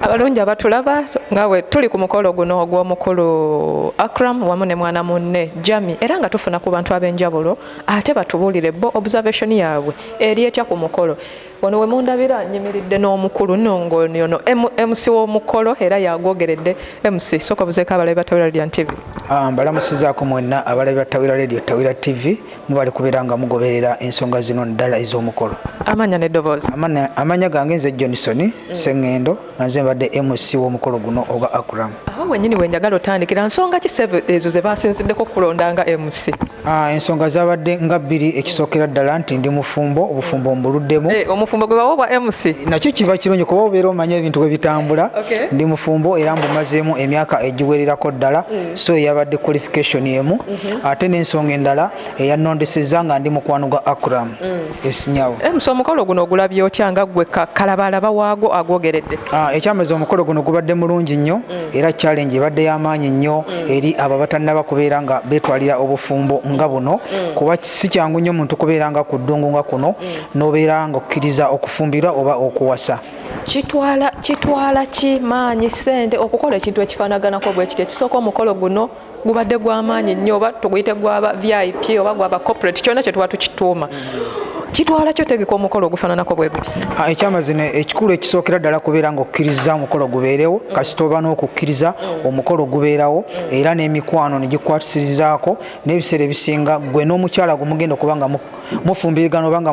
abalungi abatulaba nga we tuli ku mukolo guno ogw'omukulu Akram wamu ne mwana munne Jami era nga tufuna ku bantu ab'enjawulo ate batubuulire bo observation yaabwe eri etya ku mukolo wano we mundabira nyimiridde n'omukulu nongo yono MC w'omukolo era yagwogeredde MC soka buzeeko abalabi ba Tawira Radio TV ah, mbalamusizaako mwenna abalabi ba Tawira Radio Tawira TV mubale kubeera nga mugoberera ensonga zino ddala ez'omukolo amanya nedoboozi amanya gange nze johnson mm. sengendo nga nze mbadde mc w'omukolo guno ogwa akram awo wenyini wenjagala otandikira nsonga ki ezo ze basinziddeko okulonda nga mc ah, ensonga zabadde nga bbiri ekisookera ddala nti ndi mufumbo obufumbo mm. mbuluddemu eh, omufumbo gwe bawa obwa mc nakyo kiba kirungi kuba obeera omanya ebintu bwe bitambula ndi mufumbo era mbumazeemu emyaka egiwererako ddala mm. so eyabadde qualification emu ate n'ensonga endala eyannondesezza nga ndi mukwano gwa akram mm. esinyawo eh, msa omukolo guno ogulabye otya nga gwe kalabaalaba waago agwogeredde ah, ekyamazi omukolo guno gubadde mulungi nnyo mm. era challenge ebadde y'amaanyi nnyo mm. eri abo abatannaba kubeera nga beetwalira obufumbo nga buno kuba si kyangu nnyo omuntu kubeera nga ku ddungu nga kuno n'obeera nga okkiriza okufumbirwa oba okuwasa kitwala kitwala ki maanyi sente okukola ekintu ekifanaganako bwekityo ekisooka omukolo guno gubadde gwamaanyi nnyo oba tuguyite gwaba vip oba gwaba corporate kyona kyetuba tukituuma kitwala kyo tegeka omukolo ogufananako bwe guti ah, ekyamazima ekikulu ekisookera ddala kubeera nga okukkiriza omukolo gubeerewo kasita oba n'okukkiriza omukolo gubeerawo era n'emikwano ne gikwatisirizaako n'ebiseera ebisinga gwe n'omukyala gumugenda okuba nga mufumbirigana oba nga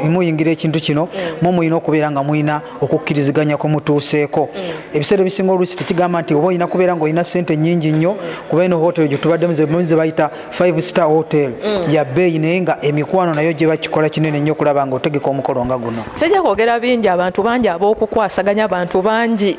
muyingira ekintu kino mm. mu mulina okubeera nga mulina okukkiriziganya kwe mutuuseeko mm. ebiseera ebisinga oluusi tekigamba nti oba olina kubeera nga olina sente nyingi nnyo mm. kuba ino hotel gye tubaddemu ze bayita five star hotel ya bbeeyi naye nga emikwano nayo gye bakikola kinene nnyo okulaba nga otegeka omukolo nga guno sijja kwogera bingi abantu bangi ab'okukwasaganya abantu bangi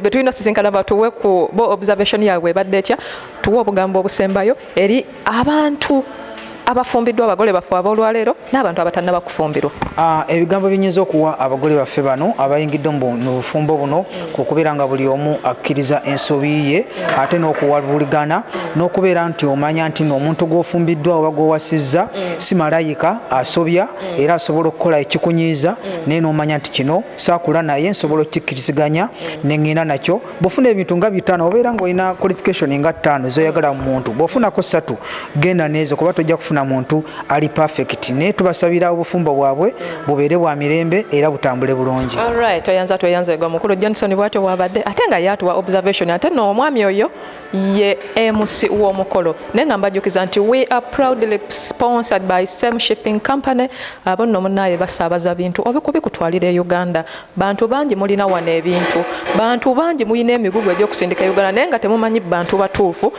betulina sisinkana batuwe ku bo observation yaabwe ebadde etya tuwe obugambo obusembayo eri abantu abafumbiddwa abagole baffe ab'olwaleero n'abantu abatannaba kufumbirwa ah, ebigambo binyinza okuwa abagole baffe bano abayingidde mu bufumbo buno ku kubeera nga buli omu akkiriza ensobi ye ate n'okuwabuligana n'okubeera nti omanya nti noomuntu gw'ofumbiddwa oba gw'owasizza si malayika asobya era asobola okukola ekikunyiiza naye n'omanya nti kino saakula naye nsobola okukikkiriziganya ne ŋŋenda nakyo bwofuna ebintu nga bitaano obeera ngaolina qualification nga ttaano zoyagala mu muntu bwofunako satu genda neezo kuba tojja kufuna muntu ali perfect naye tubasabira obufumbo bwabwe bubeere bwa mirembe era butambule bulungi tweyanza tweyanza egwa mukulu johnson bwatyo bwabadde ate nga yatuwa observation ate no omwami oyo ye mc w'omukolo naye nga mbajjukiza nti we are proudly sponsored by same shipping company abo nno munaaye basaabaza bintu obikubikutwalira e uganda Bantu bangi mulina wano ebintu. Bantu bangi mulina emigugu egy'okusindika e Uganda naye nga temumanyi bantu batuufu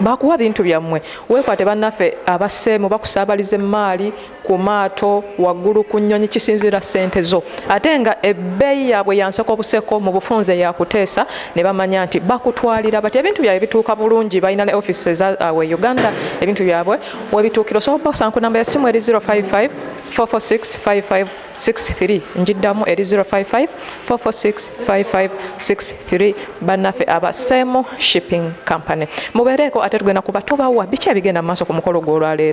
ba kuwa bintu byammwe. Weekwate bannaffe abasseemu bakusaabaliza emmaali ku maato, waggulu ku nnyonyi kisinziira ssente zo ate nga ebbeeyi yaabwe ya nseko buseko mu bufunze ya kuteesa ne bamanya nti bakutwalira batya. Ebintu byabwe bituuka bulungi, balina ne ofiisi eza awo e Uganda ebintu byabwe we bituukira. Osobola okubakozesa ku nnamba y'essimu eri 055 446 55. 63 njiddamu eri 0554465563 bannaffe aba same shipping company mubeereeko ate tugenda kuba tubawa biki ebigenda mu maaso ku mukolo gw'olwaleero